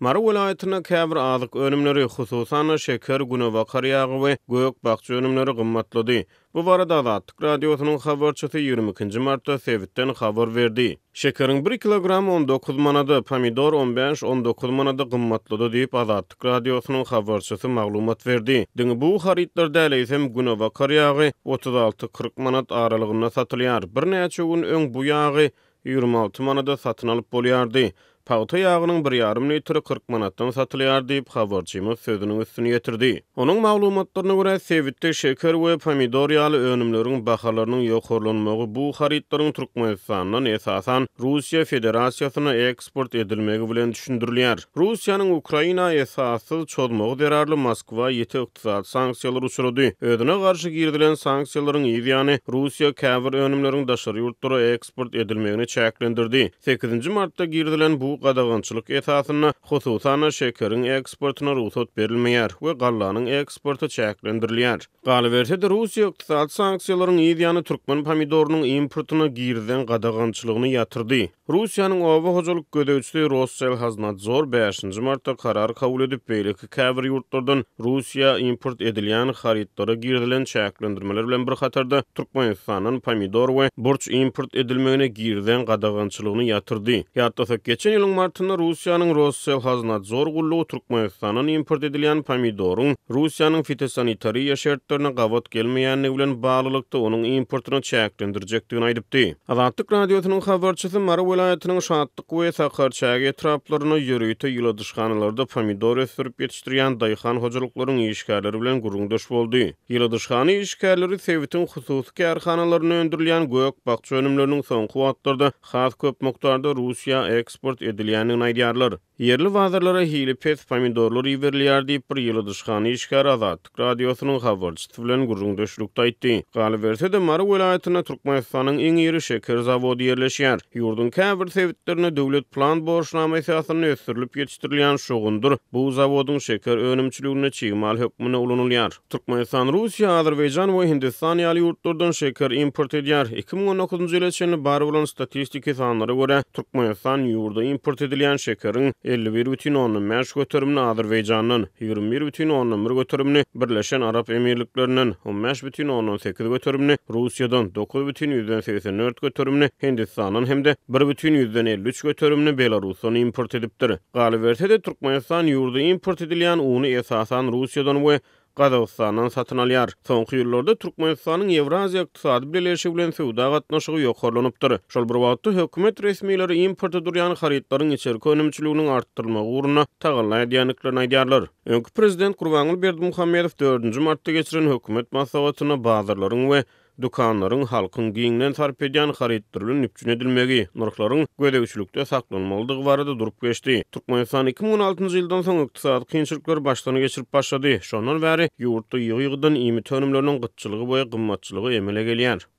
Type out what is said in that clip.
Mary welaýatynda käbir azyk önümleri, hususan-da, şeker, günebakar ýagy we gök-bakja önümleri gymmatlady. Bu barada Azatlyk Radiosynyň habarçysy ýigrimi ikinji martda sebitden habar berdi. Şekeriň bir kilogramy on dokuz manada, pomidor on bäş, on dokuz manada gymmatlady diýip, Azatlyk Radiosynyň habarçysy maglumat berdi. Diňe bu harytlar däl, eýsem, günebakar ýagy otuz alty, kyrk manat aralygynda satylýar. Birnäçe gün öň bu ýagy Ýigrimi alty manada satyn alyp bolýardy. Pagta ýagynyň bir ýarym litri kyrk manatdan satylýar diýip, habarçymyz sözüniň üstüni ýetirdi. Onuň maglumatlaryna görä, sebitde şeker we pomidor ýaly önümleriň bahalarynyň ýokarlanmagy bu harytlaryň Türkmenistandan, esasan, Russiýa Federasiýasyna, eksport edilmegi bilen düşündirilýär. Russiýanyň Ukraina esassyz çozmagy zerarly Moskwa ýiti ykdysady sanksiýalary uçrady. Özüne garşy girizilen sanksiýalaryň yz ýany, Russiýa käbir önümleriň daşary ýurtlara eksport edilmegini çäklendirdi. Sekizinji martda girizilen bu gadagançylyk esasynda, hususan-da, şekeriň eksportyna rugsat berilmeýär we gallanyň eksporty çäklendirilýär. Galyberse-de, Russiýa ykdysady sanksiýalaryň yz ýany türkmen pomidorynyň importyna girizen gadagançylygyny ýatyrdy. Russiýanyň oba hojalyk gözegçiligi Rosselhoznadzor bäşinji martda karar kabul edip, beýleki käbir ýurtlardan Russiýa import edilýän harytlara girizilen çäklendirmeler bilen bir hatarda Türkmenistandan pomidor we burç import edilmegine girizen gadagançylygyny ýatyrdy. Ýatlasak, geçen ýylyň martynda Russiýanyň Rosselhoznadzor gullugy Türkmenistandan import edilýän pomidoryň Russiýanyň fitosanitariýa şertlerine gabat gelmeýändigi bilen baglylykda, onuň importyny çäklendirjekdigini aýdypdy. Azatlyk Radiosynyň habarçysy Mary welaýatynyň Şatlyk we Sakarçäge etraplarynda ýörite ýyladyşhanalarda pomidor ösdürip ýetişdirýän daýhan hojalyklaryň işgärleri bilen gürrüňdeş boldy. Ýyladyşhana işgärleri sebitiň hususy kärhanalarynda öndürilýän gök-bakja önümleriniň soňky wagtlarda has köp mukdarda Russiýa eksport edilýändigini aýdýarlar. Ýerli bazarlara hili pes pomidorlar iberilýär diýip, bir ýyladyşhana işgäri Azatlyk Radiosynyň habarçysy bilen gürrüňdeşlikde aýtdy. Galyberse-de, Mary welaýatynda Türkmenistanyň iň iri şeker zawody ýerleşýär. Ýurduň käbir sebitlerinde döwlet plan borçnama esasynda ösdürilip ýetişdirilýän şugundyr bu zawodyň şeker önümçiliginde çig mal hökmünde ulanylýar. Türkmenistan, Russiýa, Azerbaýjan we Hindistan ýaly ýurtlardan şeker import edýär. Iki müň on dokuzynjy ýyla çenli bar bolan statistiki sanlara görä, Türkmenistan ýurda import edilýän şekeriň elli bir bütin ondan bäş göterimini Azerbaýjandan, ýigrimi bir bütin ondan bir göterimini Birleşen Arap Emirliklerinden, on bäş bütin ondan sekiz göterimini Russiýadan, dokuz bütin ýüzden segsen dört göterimini Hindistandan hem-de bir bütin ýüzden elli üç göterimini Belarusdan import edipdir. Galyberse-de, Türkmenistan ýurda import edilýän uny esasan Russiýadan we Gazagystandan satyn alýar. Soňky ýyllarda Türkmenistanyň Ýewraziýa Ykdysady Bileleşigi bilen söwda gatnaşygy ýokarlanypdyr. Şol bir wagtda, hökümet resmileri importa durýan harytlaryň içerki önümçiliginiň artdyrylmagy ugrunda tagalla edýändiklerini aýdýarlar. Öňki prezident Gurbanguly Berdimuhamedow dördünji martda geçiren hökümet maslahatynda bazarlaryň we dükanlaryň halkyň giňden sarp edýän harytlar bilen üpjün edilmegi, nyrhlaryň gözegçilikde saklanmalydygy barada durup geçdi. Türkmenistan iki müň on altynjy ýyldan soň ykdysady kynçylyklary başdan geçirip başlady. Şondan bäri ýurtda ýygy-ýygydan iýmit önümleriniň gytçylygy we gymmatçylygy emele gelýär.